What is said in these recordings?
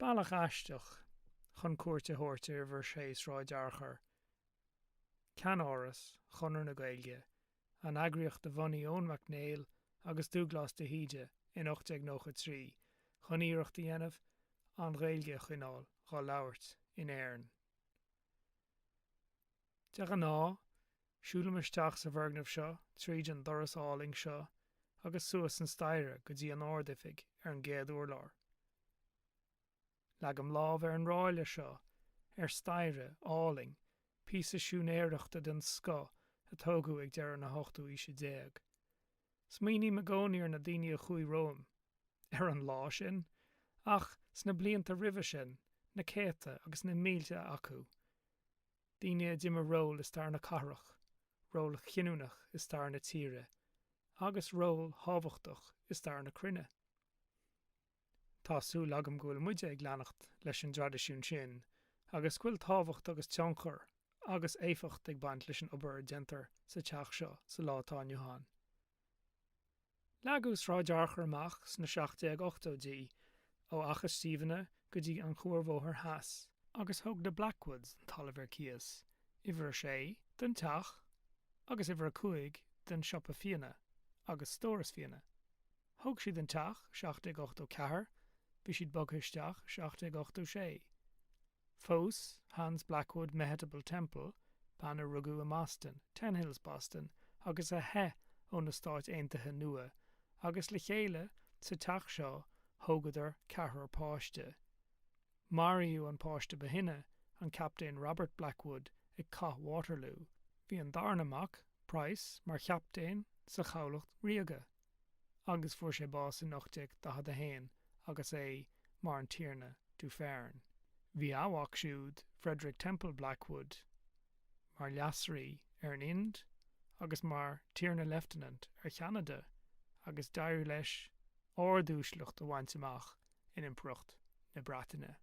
Bealach aisteach chun cuairt a thabhairt ar Uimhir Sé Sráid Fhearchair, ceannáras Chonradh na Gaeilge an eagraíocht a bhunaigh Eoin Mac Néill agus Dúglás de hÍde in 1893 chun iarracht a dhéanamh an Ghaeilge a choinneáil dhá labhairt in Éirinn. De ghnáth, siúlaim isteach sa bhfoirgneamh seo tríd an doras álainn seo agus suas an staighre go dtí an Ard-Oifig ar an gcéad urlár. Leagaim lámh ar an ráille seo, ar staighre álainn, píosa siúinéireachta den scoth a tógadh ag deireadh na hochtú aoise déag. Smaoiním i gcónaí ar na daoine a chuaigh romham, ar an lá sin, ach sna blianta roimhe sin, na céadta agus na mílte acu, daoine a d'imir ról i stair na cathrach, ról chinniúnach i stair na tíre, agus ról thábhachtach i stair na cruinne. Tá súil agam go bhfuil muide ag leanacht leis an dtraidisiún sin agus go bhfuil tábhacht agus tionchar agus éifeacht ag baint leis an obair a dhéantar sa teach seo sa lá atá inniu ann. Leagadh Sráid Fhearchair amach sna 1780idí ó Fhaiche Stiabhna go dtí an Cuarbhóthar Theas, agus thug na Blackwoods an talamh ar cíos, uimhir 6, don teach agus uimhir 5 don siopa fíona agus stóras fíona. Thóg siad an teach, 1784, bhí siad bogtha isteach, 1786. Phós Hans Blackwood Mehetabel Temple, bean a rugadh i mBoston, Ten Hills, Boston, agus a theith ó na Stáit Aontaithe nua, agus le chéile, sa teach seo, thógadar ceathrar páiste. Maraíodh an páiste ba shine, an Captaen Robert Blackwood, ag Cath Waterloo. Bhí an darna mac, Price, mar chaptaen sa Chabhlacht Ríoga. agus fuair sé bás in 1841 agus é mar an Tiarna Dufferin. Bhí a mhac siúd, Frederick Temple Blackwood, mar leasrí ar an Ind agus mar Tiarna Leifteanant ar Cheanada agus d'éirigh leis ard-uaisleacht a bhaint amach in Impireacht na Breataine.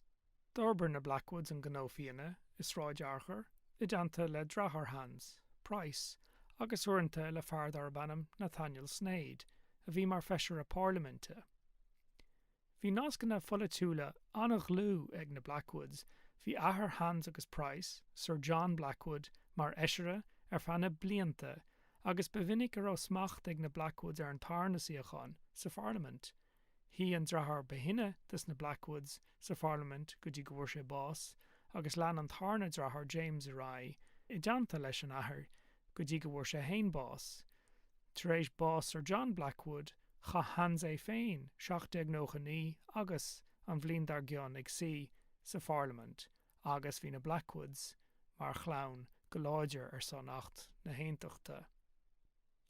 D'fhorbair na Blackwoods an gnó fíona i Sráid Fhearchair i dteannta le dreatháir Hans, Price, agus uaireanta le fear darb ainm Nathaniel Sneyd, a bhí mar Feisire Parlaiminte. Bhí nascanna pholaitiúla an-dhlúth ag na Blackwoods, bhí athair Hans agus Price, Sir John Blackwood, mar Fheisire ar feadh na blianta agus ba mhinic a raibh smacht ag na Blackwoods ar an tarna suíochán sa Pharlaimint. Shuigh an dreatháir ba shine de sna Blackwoods sa Pharlaimint go dtí go bhfuair sé bás, agus lean an tarna dreatháir James ar aghaidh i dteannta leis an athair go dtí go bhfuair sé fhéin bás. Tar éis bás Sir John Blackwood, chaith Hans é féin 1799 agus an bhliain dár gcionn ag suí sa Pharlaimint agus bhí na Blackwoods mar chlann go láidir ar son Acht na hAontachta.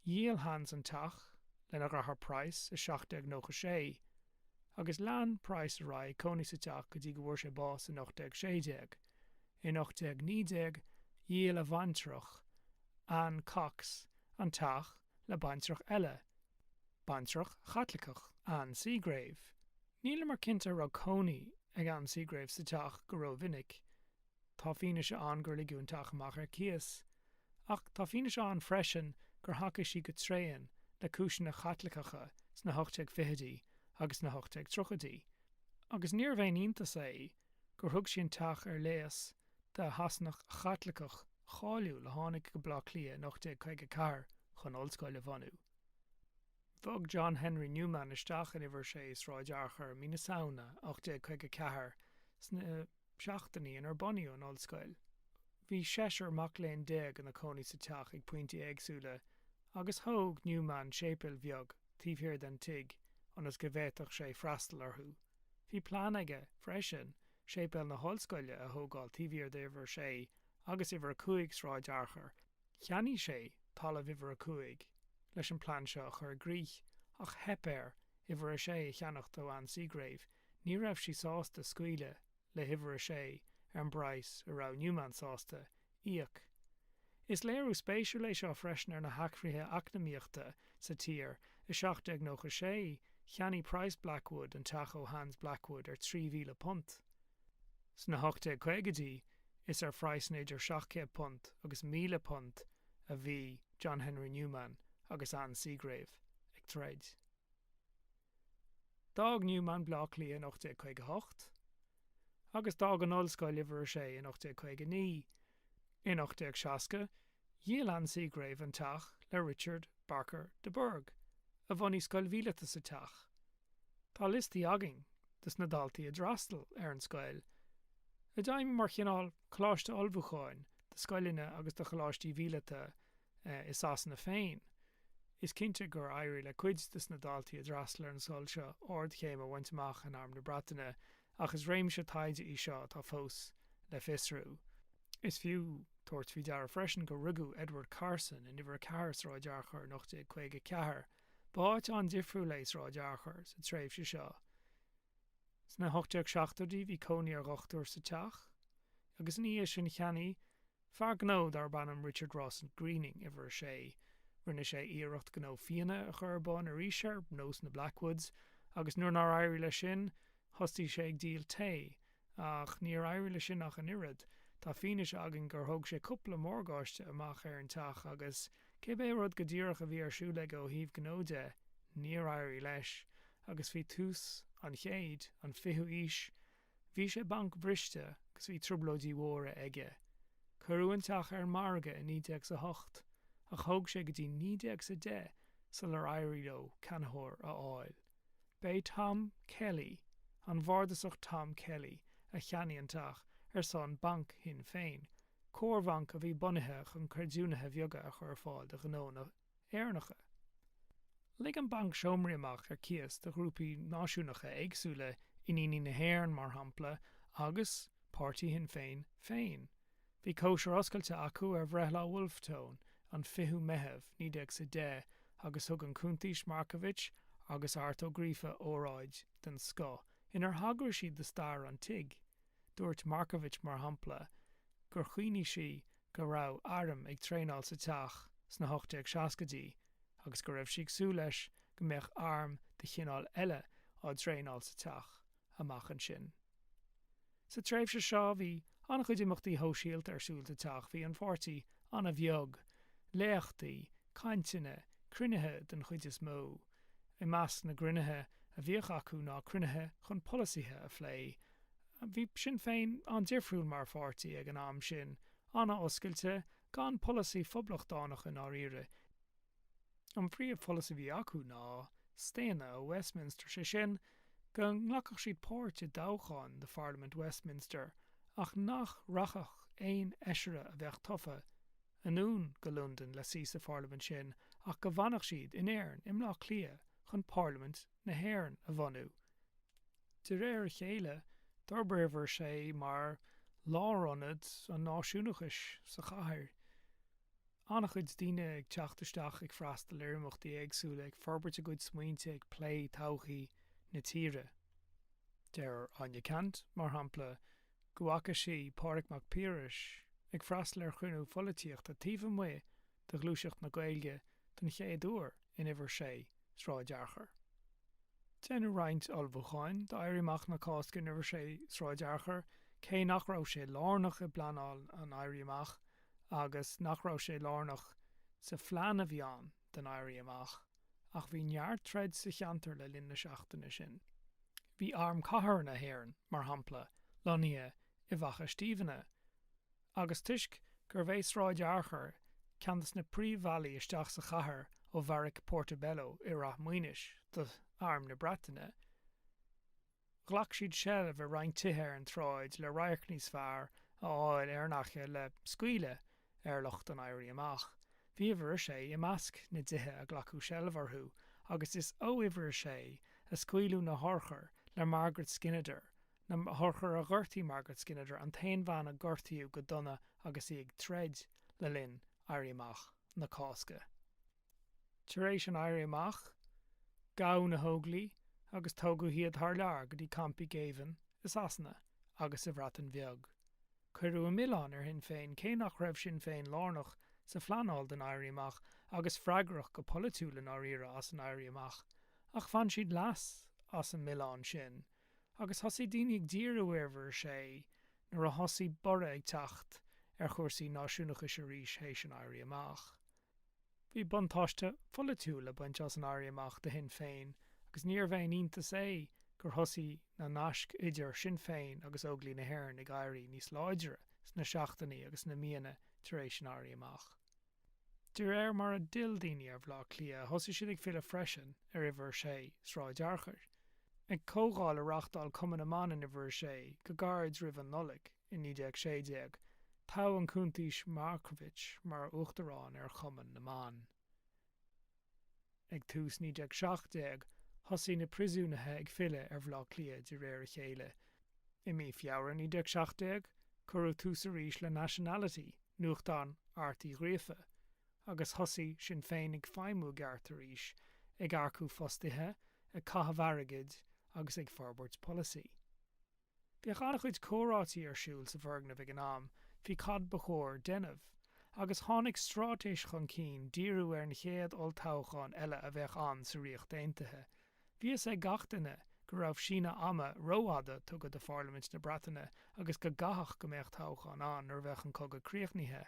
Dhíol Hans an teach lena dhreatháir Price i 1796 agus lean Price ar aghaidh ag cónaí sa teach go dtí go bhfuair sé bás in 1816. In 1819 dhíol a bhaintreach Anne Cox an teach le baintreach eile, baintreach Chaitliceach, Anne Seagrave. Nílimar cinnte a raibh cónaí ag Anne Seagrave sa teach go ró-mhinic Tá fianaise ann gur ligeadh an teach amach ar cíos, ach tá fianaise ann freisin gur thacaigh sí go tréan le cúiseanna Chaitliceacha sna 1820idí agus sna 1830idí, agus níorbh aon iontas é gur thug sí an teach ar léas do Shasanach Chaitliceach cháiliúil a tháinig go Baile Átha Cliath in 1854 chun ollscoil a bhunú. Bhog John Henry Newman isteach in Uimhir 6 Sráid Fhearchair i mí na Samhna 1854 sna seachtainí inar bunaíodh an Ollscoil. Bhí seisear mac léinn déag ina cónaí sa teach ag pointí éagsúla, agus thóg Newman séipéal bheag taobh thiar den tigh ionas go bhféadfadh sé freastal orthu. Bhí plean aige, freisin, séipéal na hOllscoile a thógáil taobh thiar d'Uimhir 6 agus Uimhir 5 Sráid Fhearchair, Cheannaigh sé talamh uimhir a cúig leis an plean seo a chur i gcrích ach theip air uimhir a sé a cheannacht ó Anne Seagrave, ní raibh sí sásta scaoileadh le huimhir a sé ar an bpraghas a raibh Newman sásta íoc. Is léiriú spéisiúil é seo freisin ar na hathruithe eacnamaíochta sa tír, i 1796 cheannaigh Price Blackwood an teach ó Hans Blackwood ar £3,000. Sna 1850idí is ar phraghsanna idir £700 agus £1,000 a bhí John Henry Newman agus Anne Seagrave ag troid. D'fhág Newman Bleá Cliath in 1858 agus d'fhág an ollscoil uimhir a sé in 1859 In 1860, dhíol Anne Seagrave an teach le Richard Barker de Burgh, a bhunaigh scoil mhíleata sa teach. Tá liostaí againn de sna daltaí a d'fhreastail ar an scoil, a d'fheidhmigh mar chineál coláiste ullmhúcháin do scoileanna agus do choláistí mhíleata i Sasana féin. Is cinnte gur éirigh le cuid de sna daltaí a d'fhreastail ar an scoil seo ardchéim a bhaint amach in Arm na Breataine ach is réimse taighde í seo atá fós le fiosrú. Is fiú tabhairt faoi deara freisin gur rugadh Edward Carson in Uimhir 4 Sráid Fhearchair in 1854. B'áit an-difriúil é Sráid Fhearchair sa tréimhse seo. Sna 1870idí bhí cónaí ar dhochtúir sa teach agus ina dhiaidh sin cheannaigh Fear gnó darb ainm Richard Rawson Greening, uimhir sé, rinne sé iarracht gnó fíona a chur ar bun arís ar nós na Blackwoods agus nuair nár éirigh leis sin, thosaigh sé ag díol tae. Ach níor éirigh leis sin ach an oiread. Tá fianaise againn gur thóg sé cúpla morgáiste amach ar an teach agus, cibé rud go díreach a bhí ar siúl aige ó thaobh gnó de, níor éirigh leis agus faoi tús an chéid, an fichiú aois, Bhí sé bancbhriste agus bhí trioblóidí mhóra aige. Cuireadh an teach ar an margadh i 1908 ach thóg sé go dtí 1910 sular éirigh leo ceannaitheoir a fháil. Ba é Tom Kelly, an Bhardasach Tom Kelly, a cheannaigh an teach ar son Banc Shinn Féin, comharbhanc a bhí bunaithe chun creidiúnaithe bheaga a chur ar fáil do ghnónna. Éireannacha. Lig an Banc seomraí amach ar cíos do ghrúpaí náisiúnacha éagsúla, Iníní na hÉireann, mar shampla, agus páirtí Shinn Féin féin. Bhí cóisir oscailte acu ar bhreithlá Wolfe Tone, an 20ú Meitheamh, 1910, agus thug an Cuntaois Markievicz agus Art Ó Gríofa óráid den scoth inar thagraigh siad do stair an tigh. Dúirt Markievicz, mar shampla, gur chuimhnigh sí, go raibh airm ag traenáil sa teach sna hocht déag seascaidí agus go raibh sí ag súil leis go mbeadh arm de chineál eile á traenáil sa teach amach ansin. Sa tréimhse seo bhí an-chuid imeachtaí shóisialta ar siúl sa teach, bhí an pháirtí an-bheag, léachtaí, cainteanna, cruinnithe den chuid is mó. I measc na gcruinnithe a bhíodh acu ná cruinnithe chun polasaithe a phlé, Bhí Sinn Féin an-difriúil mar pháirtí ag an am sin, an-oscailte, gan polasaí phoblachtánach i ndáiríre. An phríomh-pholasaí a bhí acu ná staonadh ó Westminster, sé sin, go nglacfadh siad páirt i dtoghcháin do Pharlaimint Westminster ach nach rachfadh aon fheisire a bheadh tofa anonn go Londain le suí sa Pharlaimint sin ach go bhfanfadh siad in Éirinn, i mBleá Cliath, chun Parlaimint na hÉireann a bhunú. De réir a chéile, d'fhorbair Uimhir 6 mar lárionad an náisiúnachais sa chathair. An-chuid daoine ag teacht isteach, ag freastal ar imeachtaí éagsúla, ag forbairt a gcuid smaointe, ag plé todhchaí na tíre. Deir Áine Ceannt, mar shampla, go bhfaca sí Pádraig Mac Piarais ag freastal ar chruinniú pholaitíochta taobh amuigh de Ghluaiseacht na Gaeilge den chéad uair in Uimhir 6, Sráid Fhearchair. Deineadh roinnt ullmhúcháin d'Éirí Amach na Cásca in Uimhir 6, Sráid Fhearchair, cé nach raibh sé lárnach i bpleanáil an Éirí Amach agus nach raibh sé lárnach sa phlean a bhí ann don Éirí Amach, ach bhí neart troid sa cheantar le linn na seachtaine sin. Bhí Arm Cathartha na hÉireann, mar shampla, lonnaithe i bhFaiche Stiabhna, agus toisc gurbh é Sráid Fhearchair ceann de na príomhbhealaí isteach sa chathair ó bheairic Portobello i Rath Maoinis d'Arm na Breataine, ghlac siad seilbh ar roinnt tithe ar an tsráid le radharc níos fearr a fháil ar an fhaiche le scaoileadh ar lucht an Éirí Amach. Bhí Uimhir 6 i measc na dtithe a glacadh seilbh orthu agus is ó Uimhir 6 a scaoileadh na hurchair le Margaret Skinnider na hurchair a ghortaigh Margaret Skinnider an t-aon bhean a gortaíodh go dona agus í ag troid le linn Éirí Amach na Cásca Tar éis an Éirí Amach gabhadh na hÓglaigh agus tógadh iad thar lear go dtí campaí géibhinn i Sasana agus sa Bhreatain Bheag Cuireadh an milleán ar Shinn Féin cé nach raibh Sinn Féin lárnach sa phleanáil don Éirí Amach agus freagrach go polaitiúil i ndáiríre as an Éirí Amach ach bhain siad leas as an milleán sin agus thosaigh daoine ag díriú ar Uimhir 6 nuair a thosaigh borradh ag teacht ar chúrsaí náisiúnachais arís théis an Éirí Amach. Bhí buntáiste pholaitiúil le baint as an Éirí Amach do Shinn Féin agus níorbh aon iontas é gur thosaigh na naisc idir Sinn Féin agus Óglaigh na hÉireann ag éirí níos láidre sna seachtainí agus sna míonna tar éis an Éirí Amach. De réir mar a d'fhill daoine ar Bhleá Cliath thosaigh siad ag filleadh freisin ar Uimhir 6, Sráid Fhearchair. Ag comhdháil a reáchtáil Cumann na mBan in Uimhir 6 go gairid roimh an Nollaig i 1916, toghadh an Cuntaois Markievicz mar uachtarán ar Chumann na mBan. Ag tús 1917 thosaigh na príosúnaithe ag filleadh ar Bhleá Cliath de réir a chéile. I mí Feabhra 1917 cuireadh tús arís le Nationality, nuachtán Airt Uí Ghríofa, agus thosaigh Sinn Féin ag feidhmiú i gceart arís, ag earcú fostaithe, ag caitheamh airgid agus ag forbairt polasaí. Bhíodh an-chuid comhráití ar siúl sa bhfoirgneamh ag an am faoi cad ba chóir déanamh, agus tháinig straitéis chun cinn díriú ar an chéad olltoghchán eile a bheadh ann sa Ríocht Aontaithe. Bhí fhios ag gach duine go raibh síneadh ama rófhada tugtha do Pharlaimint na Breataine agus go gcaithfeadh go mbeadh toghchán ann nuair a bheadh an cogadh críochnaithe.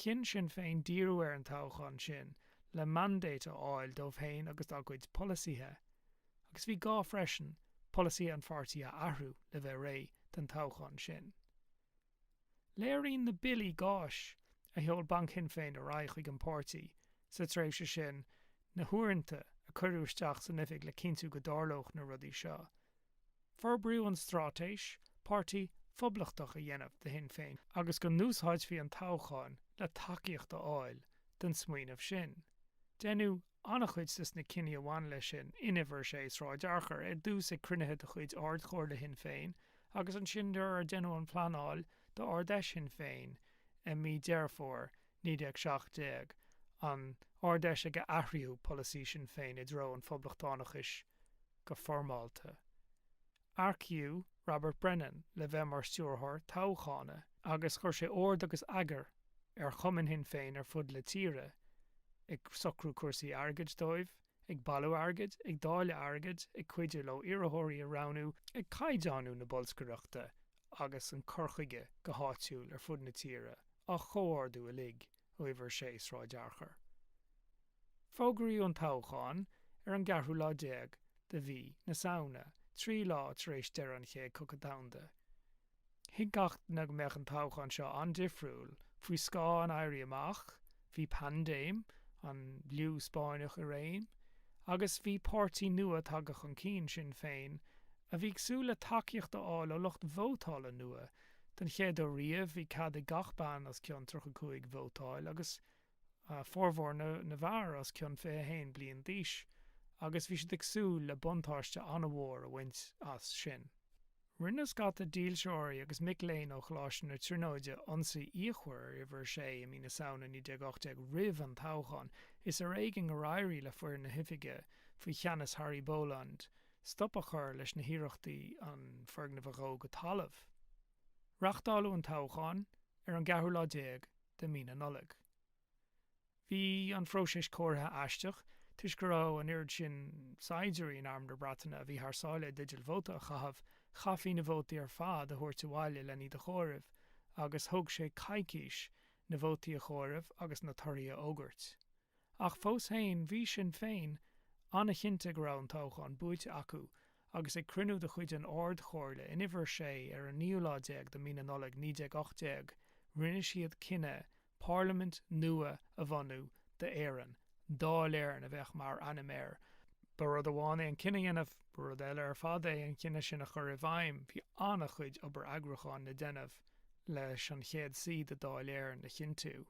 Chinn Sinn Féin díriú ar an toghchán sin le mandate a fháil dóibh féin agus dá gcuid polasaithe. agus bhí gá freisin polasaí an pháirtí a athrú le bheith réidh don toghchán sin. Léiríonn na billí gáis a sheol Banc Shinn Féin ar aghaidh chuig an bpáirtí sa tréimhse sin na huaireanta a cuireadh isteach san oifig le cinntiú go dtarlódh na rudaí seo. Forbraíodh an straitéis, páirtí phoblachtach a dhéanamh de Shinn Féin agus go n-úsáidfí an toghchán le tacaíocht a fháil don smaoineamh sin. Deineadh an-chuid de na cinní a bhain leis sin in Uimhir 6, Sráid Fhearchair, ar dtús ag cruinnithe de chuid Ard-Chomhairle Shinn Féin agus ansin nuair a deineadh an phleanáil d'Ard-Fheis Shinn Féin i mí Deireadh Fómhair 1917, an Ard-Fheis ag ar athraíodh polasaí Sinn Féin i dtreo an Phoblachtánachais. go foirmeálta. Earcaíodh Robert Brennan le bheith mar stiúrthóir toghchána agus chuir sé ord agus eagar ar chumainn Shinn Féin ar fud na tíre, ag socrú cúrsaí airgid dóibh, ag bailiú airgid, ag dáileadh airgid, ag cuidiú leo iarrthóirí a roghnú, ag caighdeánú na bolscaireachta agus an cur chuige go háitiúil ar fud na tíre á chomhordú uilig. Uimhir 6 Sráid Fhearchair. Fógraíodh an toghchán ar an gceathrú lá déag de mhí na Samhna, trí lá tar éis deireadh an Chéad Chogadh Domhanda. Thuig gach duine go mbeadh an toghchán seo an-difriúil. Faoi scáth an Éirí Amach, bhí paindéim an Fhliú Spáinneach i réim, agus bhí páirtí nua tagtha chun cinn, Sinn Féin, a bhí ag súil le tacaíocht a fháil ó lucht vótála nua. Den chéad uair riamh, bhí cead ag gach bean os cionn 35 vótáil, agus formhór na bhfear os cionn 21 bliain d'aois, agus bhí siad ag súil le buntáiste an-mhór a bhaint as sin. Rinne scata dílseoirí agus mic léinn ó Choláiste na Tríonóide ionsaí fhíochmhar ar Uimhir 6 i mí na Samhna 1918 roimh an toghchán. Is ar éigean gur éirigh le foireann na hoifige, faoi cheannas Harry Boland, stop a chur leis na hiarrachtaí an foirgneamh a dhó go talamh. Reachtáladh an toghchán ar an gceathrú lá déag de mhí na Nollag. Bhí an phróiseas comhairimh aisteach toisc go raibh an oiread sin saighdiúirí in arm na Breataine a bhí thar sáile i dteideal vóta a chaitheamh, chaithfí na vótaí ar fad a thabhairt abhaile lena iad a chomhaireamh agus thóg sé coicís na vótaí a chomhaireamh agus na torthaí a fhógairt. ach fós féin bhí Sinn Féin an-chinnte go raibh an toghchán buaite acu agus ag cruinniú de chuid an Ard-Chomhairle in Uimhir 6 ar an naoú lá déag de Mhí na Nollag 1918 rinne siad cinneadh Parlaimint nua a bhunú d'Éirinn. Dáil Éireann a bheadh mar ainm air. Ba rud amháin é an cinneadh a dhéanamh, ba rud eile ar fad é an cinneadh sin a chur i bhfeidhm. Bhí an-chuid obair eagrúcháin le déanamh leis an chéad suí de Dháil Éireann a chinntiú.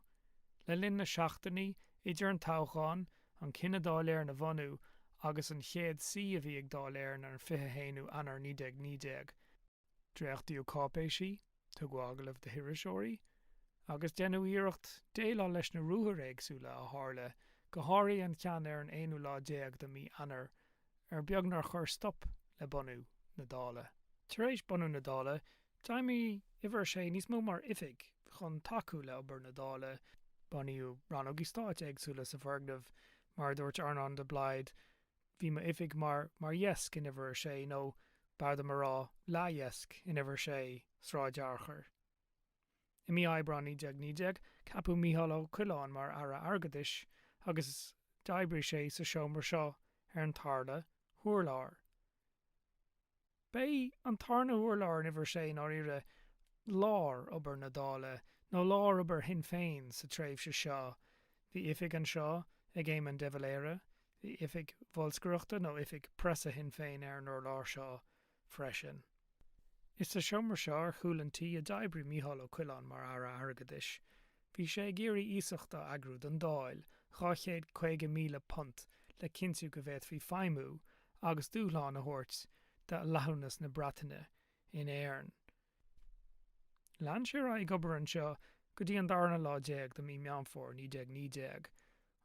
Le linn na seachtainí idir an toghchán, an cinneadh Dáil Éireann a bhunú, agus an chéad suí a bhí ag Dáil Éireann ar an 21ú Eanáir 1919, dréachtaíodh cáipéisí, tugadh agallaimh do hiriseoirí, agus deineadh iarracht déileáil leis na ruathair éagsúla a tharla, go háirithe an ceann ar an aonú lá déag de mhí Eanáir ar beag nár chuir stop le bunú na Dála. Tar éis bunú na Dála, D'fheidhmigh Uimhir 6 níos mó mar oifig chun tacú le obair na Dála. Bunaíodh rannógaí stáit éagsúla sa bhfoirgneamh. Mar a dúirt Earnán de Blaghd, Bhí m'oifig mar, mar dheasc in Uimhir 6, nó b'fhearr dom a rá, leathdheasc in Uimhir 6, Sráid Fhearchair. I mí Aibreáin 1919, ceapadh Micheál Ó Coileáin mar Aire Airgeadais agus d'oibrigh sé sa seomra seo ar an tarna hurlár. B'é an tarna hurlár in uimhir a sé i ndáiríre lár obair na Dála nó lár obair Shinn Féin sa tréimhse seo. Bhí oifig anseo ag Éamon de Valera, bhí oifig bholscaireachta nó oifig preasa Shinn Féin ar an urlár seo freisin. Is sa seomra seo ar chúl an tí a d'oibrigh Micheál Ó Coileáin mar Aire Airgeadais. Bhí sé ag iarraidh iasacht a eagrú don Dáil, £250,000, le cinntiú go bhféadfaí feidhmiú agus dúshlán a thabhairt do fhlaitheamhnas na Breataine in Éirinn. Lean sé ar aghaidh ag obair anseo go dtí an darna lá déag de mí Meán Fómhair 1919.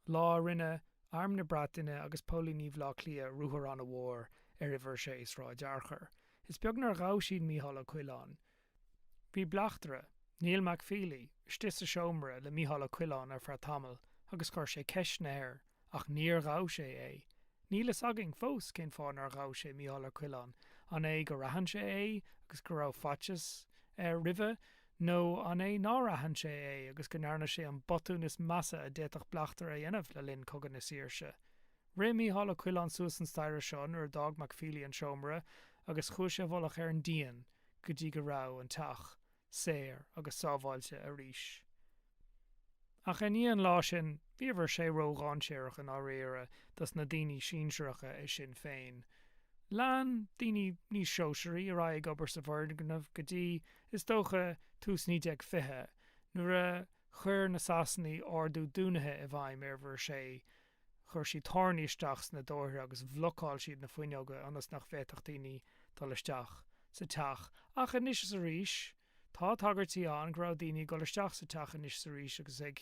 Lá a rinne Arm na Breataine agus Póilíní Bhaile Átha Cliath ruathar an-mhór ar Uimhir 6 Sráid Fhearchair. Is beag nár ghabh siad Micheál Ó Coileáin. Bhí bleachtaire, Neil McFeely, istigh sa seomra le Micheál Ó Coileáin ar feadh tamaill agus chuir sé ceisteanna air ach níor ghabh sé é. Níl fhios againn fós cén fáth nár ghabh sé Micheál Ó Coileáin, an é gur aithin sé é agus go raibh faitíos air roimhe, Nó an é nár aithin sé é agus go ndearna sé an botún is measa a d'fhéadfadh bleachtaire a dhéanamh le linn Cogadh na Saoirse? Rith Mícheál Ó Coileáin suas an staighre seo nuair a d'fhág McFeely an seomra agus chuaigh sé i bhfolach ar an díon go dtí go raibh an teach saor agus sábháilte arís. Ach i ndiaidh an lá sin, bhí Uimhir 6 ró-dháinséarach i ndáiríre dos na daoine sinsearacha i Sinn Féin. Lean daoine níos sóisearaí ar aghaidh ag obair sa bhfoirgneamh go dtí, is dócha, tús 1920, nuair a chuir na Sasanaigh ordú dúnaithe i bhfeidhm ar Uimhir 6. Chuir siad táirní isteach sna dóirthre agus bhlocáil siad na fuinneoga ionas nach bhféadfadh daoine dul isteach sa teach. Ach anois is arís. Tá tagairtí ann go raibh daoine ag dul isteach sa teach anois 's arís agus ag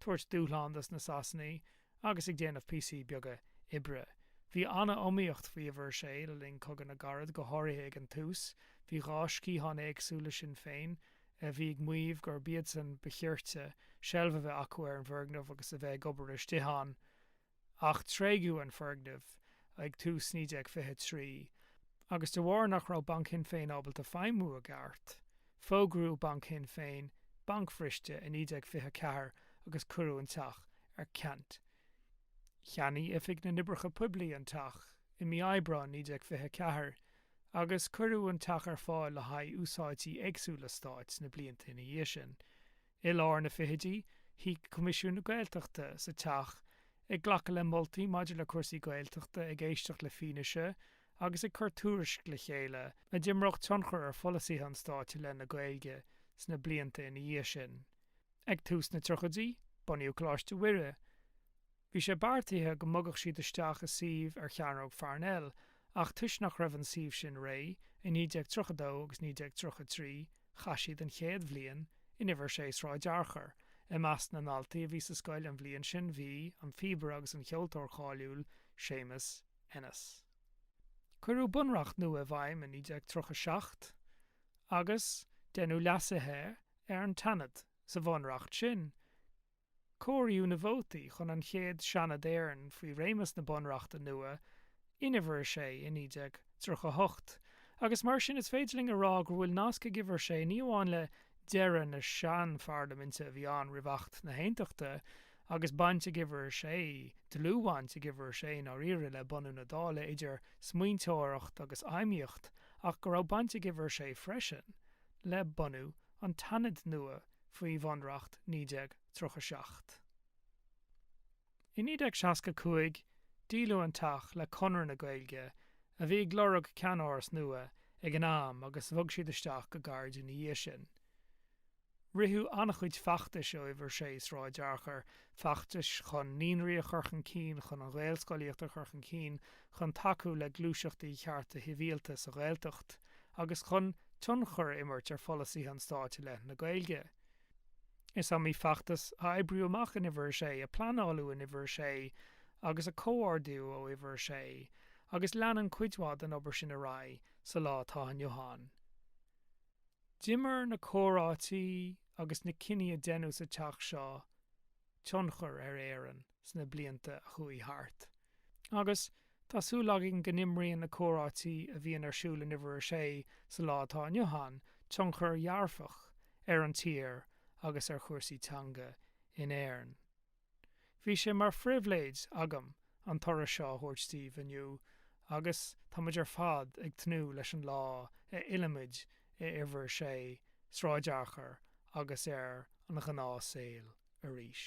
tabhairt dúshlán do na Sasanaigh agus ag déanamh píosaí beaga oibre. Bhí an-iomaíocht faoi uimhir a sé le linn Cogadh na gCarad, go háirithe ag an tús. Bhí dhá sciathán éagsúil le Sinn Féin, a bhí ag maoímh gurb iadsan ba chirte seilbh a bheith acu ar an bhfoirgneamh agus a bheith ag obair istigh ann, ach tréigeadh an foirgneamh ag tús 1923 agus de bharr nach raibh Banc Shinn Féin ábalta feidhmiú i gceart, fógraíodh Banc Shinn Féin bancbhriste i 1924 agus cuireadh an teach ar ceant. Cheannaigh Oifig na nOibreacha Poiblí an teach i mí Aibreáin 1924 agus cuireadh an teach ar fáil le haghaidh úsáidí éagsúla Stáit sna blianta ina dhiaidh sin. I lár na fichidí, shuigh Coimisiún na Gaeltachta sa Teach ag glacadh le moltaí maidir le cúrsaí Gaeltachta, ag éisteacht le fianaise agus ag cur tuairisc le chéile a d'imreodh tionchar ar pholasaithe an Stáit i leith na Gaeilge sna blianta ina dhiaidh sin. Ag tús na tríochaidí, bunaíodh Coláiste Mhuire. Bhí sé beartaithe go mbogadh siad isteach i suíomh ar Chearnóg Pharnell ach, toisc nach raibh an suíomh sin réidh, i 1932 agus 1933 chaith siad an chéad bhliain in Uimhir 6 Sráid Fhearchair. I measc na ndaltaí a bhí sa scoil an bhliain sin bhí, an phíobaire agus an cheoltóir cháiliúil, Séamus Ennis. Cuireadh bunreacht nua i bhfeidhm i 1937 agus deineadh leasuithe ar an tSeanad sa bhunreacht sin. Comhairíodh na vótaí chun an chéad Seanad Éireann faoi réimeas na Bunreachta nua in Uimhir 6 i 1938 agus mar sin is féidir linn a rá gur bhfuil nasc ag Uimhir 6 ní amháin le deireadh na sean-Pharlaiminte a bhí ann roimh Acht na hAontachta agus baint ag Uimhir 6, dlúthbhaint ag Uimhir 6 i ndáiríre le bunú na Dála idir smaointeoireacht agus fheidhmíocht ach go raibh baint ag Uimhir 6 freisin le bunú an tSeanaid nua faoi Bhunreacht 1937. I 1965 díoladh an teach le Conradh na Gaeilge a bhí ag lorg ceannáras nua ag an am agus bhog siad isteach go gairid ina dhiaidh sin. Ritheadh an-chuid feachtais ó Uimhir 6 Sráid Fhearchair feachtais chun naíonraí a chur chun cinn, chun an ghaelscolaíocht a chur chun cinn, chun tacú le gluaiseachtaí chearta shibhialta sa Ghaeltacht agus chun tionchar a imirt ar pholasaithe an Stáit i leith na Gaeilge. Is iomaí feachtas a oibríodh amach in Uimhir a sé, a pleanáladh in Uimhir a sé agus a comhordaíodh ó Uimhir a sé agus leanann cuid mhaith den obair sin ar aghaidh sa lá atá inniu ann. D'imir na comhráití agus na cinní a deineadh sa teach seo tionchar ar Éirinn sna blianta a chuaigh thart, agus tá súil againn go n-imríonn na comhráití a bhíonn ar siúl in Uimhir 6 sa lá atá inniu ann tionchar dhearfach ar an tír agus ar chúrsaí teanga in Éirinn. Bhí sé mar phribhléid agam an turas seo a thabhairt daoibh inniu agus táimid ar fad ag tnúth leis an lá a fhillfimid ar Uimhir 6, Sráid Fhearchair agus ar an ghnáth saol arís.